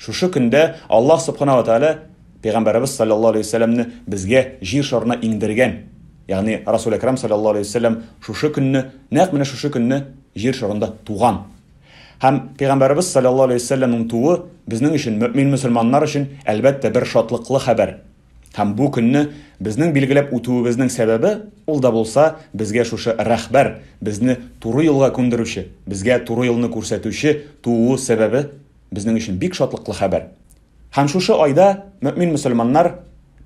Шушы көндә Аллаһ Субхана ва Тәгалә Пәйгамбәребез салләллаһу алейһи ва сәлләмне безгә Җир шарына иңдергән. Ягъни Расул Әкрам салләллаһу алейһи ва сәлләм шушы көнне, нәкъ менә шушы көнне Җир шарында туган. Һәм Пәйгамбәребез салләллаһу алейһи ва сәлләмнең тууы безнең өчен, мөэмин-мөселманнар өчен, әлбәттә, бер шатлыклы хәбәр. Һәм бу көнне безнең билгеләп үтүебезнең сәбәбе, ул да булса, безгә шушы Рәхбәр, безне туры юлга күндерүче, безгә туры юлны күрсәтүче тууы сәбәбе безнең өчен бик шатлыклы хәбәр. Һәм шушы айда мөэмин мөселманнар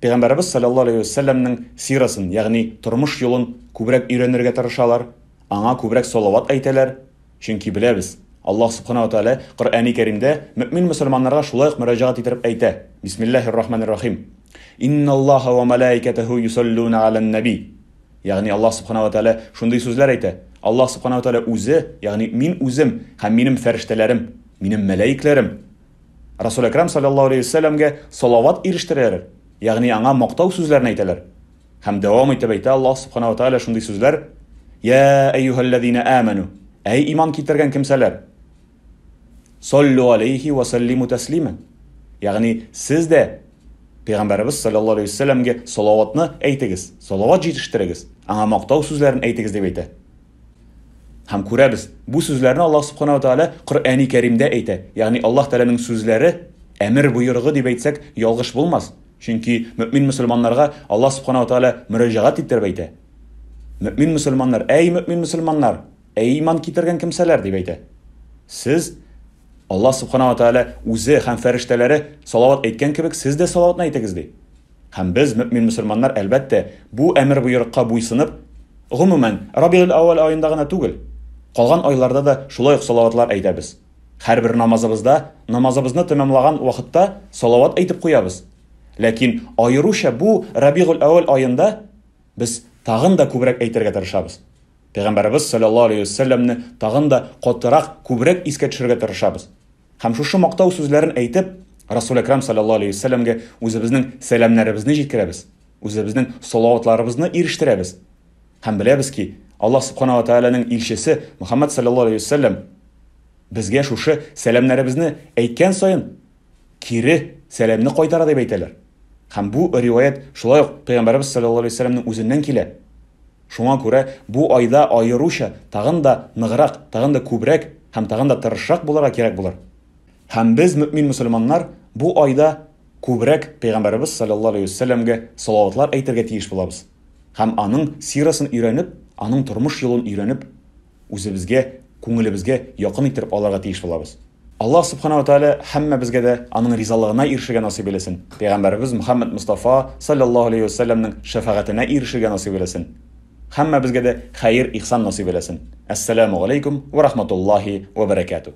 Пәйгамбәребез салләллаһу алейһи вә сәлләмнең сирасын, ягъни тормыш юлын күбрәк өйрәнергә тырышалар, аңа күбрәк салават әйтәләр, чөнки беләбез, Аллаһ Субхана ва Тәгалә Коръәни Кәримдә мөэмин мөселманнарга шулай ук мөрәҗәгать иттереп әйтә, Бисмиллаһир рахманир рахим, Инналлаһа ва мәләикәтәһү йосаллүнә галән нәби. Ягъни Аллаһ Субхана ва Тәгалә шундый сүзләр әйтә, Аллаһ Субхана ва Тәгалә Үзе, ягъни Мин Үзем һәм Минем фәрештәләрем, Минем мәләекләрем Расул Әкрам салләллаһу алейһи ва сәлләмгә салават ирештерәләр, ягъни аңа мактау сүзләрен әйтәләр. Һәм дәвам итеп әйтә Аллаһ Субхана ва Тәгалә шундый сүзләр, Йә әйюһәлләзинә әмәну, әй иман китергән кемсәләр! Саллу алейхи ва саллиму тәслимән. Ягъни, сез дә Пәйгамбәребез саллаллаһу алейхи ва сәлләмгә салаватны әйтегез, салават җитештерегез, аңа мактау сүзләрен әйтегез дип әйтә. Һәм күрәбез, бу сүзләрне Аллаһ субхана ва тәгалә Коръәни Кәримдә әйтә. Ягъни, Аллаһ Тәгаләнең сүзләре, әмер боерыгы дип әйтсәк, ялгыш булмас. Чөнки мөэмин мөселманнарга Аллаһ субхана ва тәгалә мөрәҗәгать иттереп әйтә. Мөэмин мөселманнар, әй мөэмин мөселманнар! Ә иман китергән кемсәләр дип әйтә? Сез, Аллаһ Субхана ва Тәгалә Үзе һәм фәрештәләре салават әйткән кебек, сез дә салаватны әйтегез, ди. Һәм без, мөэмин-мөселманнар, әлбәттә, бу әмер-боерыкка буйсынып, гомумән, Рабигель-әүвәл аенда гына түгел, калган айларда да шулай ук салаватлар әйтәбез. Һәрбер намазыбызда, намазыбызны тәмамлаган вакытта салават әйтеп куябыз. Ләкин аеруча бу Рабигель-әүвәл аенда без тагын да күбрәк әйтергә тырышабыз. Пәйгамбәребез салләллаһу алейһи вә сәлләмне тагын да катырак, күбрәк искә төшерергә тырышабыз. Һәм шушы мактау сүзләрен әйтеп, Расул Әкрам салләллаһу алейһи вә сәлләмгә үзебезнең сәламнәребезне җиткерәбез, үзебезнең салаватларыбызны ирештерәбез. Һәм беләбез ки, Аллаһ Субхана ва Тәгаләнең илчесе Мөхәммәд салләллаһу алейһи вә сәлләм безгә шушы сәламнәребезне әйткән саен, кире сәламне кайтара дип әйтәләр. Һәм бу риваять шулай ук Пәйгамбәребез саллаллаһу алейһи вәсәләмнең үзеннән килә. Шуңа күрә бу айда аеруча тагын да ныграк, тагын да күбрәк һәм тагын да тырышрак булырга кирәк булыр. Һәм без, мөэмин мөселманнар, бу айда күбрәк Пәйгамбәребез саллаллаһу алейһи вәсәләмгә салаватлар әйтергә тиеш булабыз һәм аның сирасын өйрәнеп, аның тормыш юлын өйрәнеп, үзебезгә, күңелебезгә якын иттереп алырга тиеш булабыз. Аллаһ Субхана ва Тәгалә һәммәбезгә дә Аның ризалыгына ирешергә насыйп эйләсен, пәйгамбәребез Мөхәммәд Мостафа, салләллаһу алейһи вә сәлләмнең шәфәгатенә ирешергә насыйп эйләсен. Һәммәбезгә дә хәер, ихсан насыйп эйләсен. Әссәләмү галәйкүм вә рахматуллаһи вә бәрәкәтү.